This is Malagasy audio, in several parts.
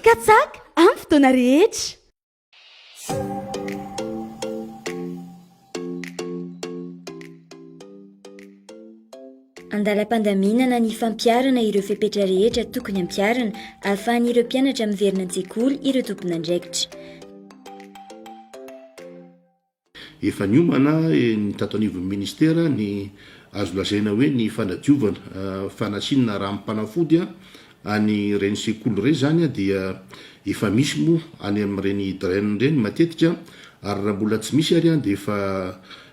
Katsaka amin'ny fotoana rehetra. Andalam-pandaminana ny fampiharana ireo fepetra rehetra tokony hampiharana ahafahan'ireo mpianatra miverina an-tsekoly ireo tompon'andraikitra. Efa niomana ny tato anivon'ny Ministera ny azo lazaina hoe ny fanadiovana, fanasinina ranom-panafody any ireny sekoly ireny izany dia efa misy moa any amin'ireny drain ireny matetika ary raha mbola tsy misy ary dia efa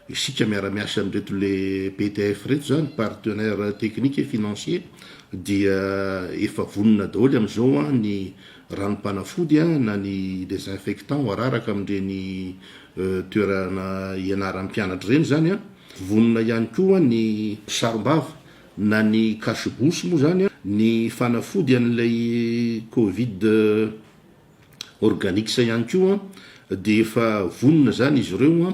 isika miara-miasa amin'ireto le PTF ireto izany, Partenaire Technique et Financier, dia efa vonona daholo amin'izao ny ranom-panafody na ny désinfectant araraka amin'ireny toerana ianaran'ny mpianatra ireny izany. Vonona ihany koa ny mpisarom-bava na ny cache bouche moa izany ny fanafody an'ilay covid organics ihany koa dia efa vonona izany izy ireo.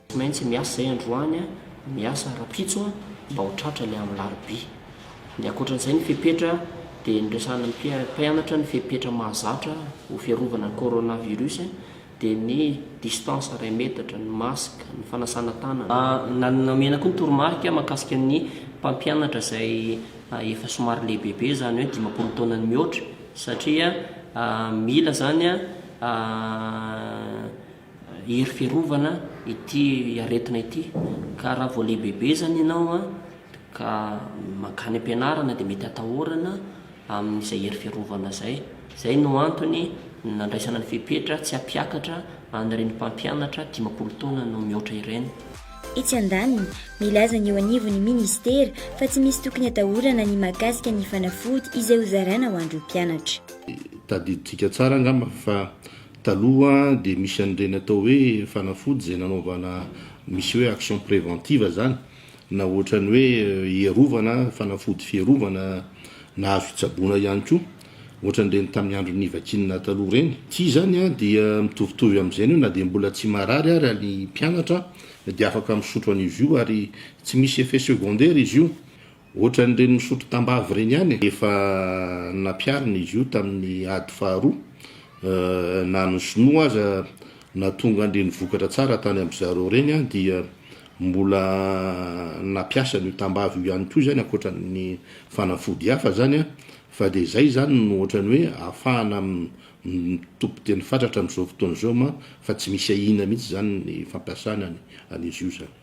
Tsy maintsy miasa zay androany a, miasa rapitso a mba ho tratra le am larobia. De ankoatran'izay ny fepetra de niresahana ny mpianatra ny fepetra mahazatra ho fiarovana ny coronavirus de ny distance iray metatra, ny masque, ny fanasana tanana. Nomena koa ny toromarika mahakasika ny mpampianatra izay efa somary lehibebe izany hoe dimampolo taona ny mihoatra satria mila izany a. Hery fiarovana ity aretina ity ka raha vao lehibebezany ianao ka mankany am-pianarana dia mety atahorana amin'izay hery fiarovana izay. Izay no antony nandraisana ny fepetra tsy hampiakatra an'ireny mpampianatra dimampolo taona no mihoatra ireny. Etsy andaniny, milaza ny eo anivon'ny minisitera fa tsy misy tokony atahorana ny mahakasika ny fanafody izay hozaraina ho an'ireo mpianatra. Tadidintsika tsara angamba fa Taloha dia misy an'ireny atao hoe fanafody izay nanaovana misy hoe action préventive izany na ohatran'ny hoe hierovana, fanafody fierovana na azo hitsaboana ihany koa, ohatran'ireny tamin'ny andron'ny vakinina taloha ireny. Ity izany dia mitovitovy amin'izay ny hoe na dia mbola tsy marary ary ny mpianatra dia afaka misotro an'izy io ary tsy misy effet secondaire izy io. Ohatran'ireny misotro tambavy ireny ihany e! Efa nampiharina izy io tamin'ny ady faharoa, na ny sinoa aza nahatonga an'ireny vokatra tsara tany amin'ny zareo ireny dia mbola nampiasa an'io tambavy io ihany koa izany ankoatran'ny fanafody hafa izany an! fa dia izay izany no ohatran'ny hoe ahafahana mitopy tena fatratra amin'izao fotoana izao fa tsy misy ahiana mihitsy izany ny fampiasana an'izy io izany.